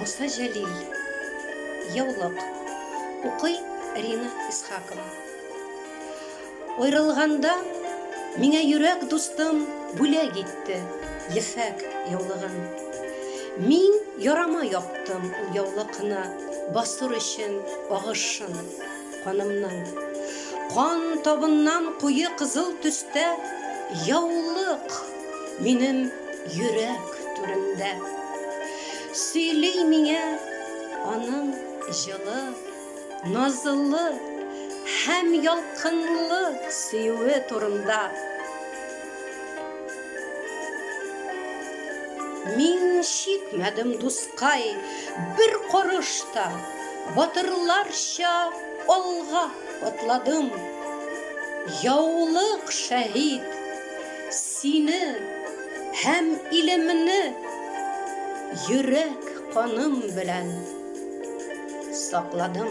Муса Җәлил. Яулык. Укый Рина Исхакова. Аерылганда миңа йөрәк дустым бүләк итте ефәк яулыгын. Мин ярама яптым ул яулыкны басыр өчен агышын. Канымның кан табыннан куе кызыл төстә яулык минем йөрәк түрендә Сөйли миңа аның җылы, назлы һәм ялкынлы сөюе турында. Мин чикмәдем, дускай, бер карыш та, Батырларча алга атладым. Яулык шәһит, сине һәм илемне Йөрәк каным белән сакладым.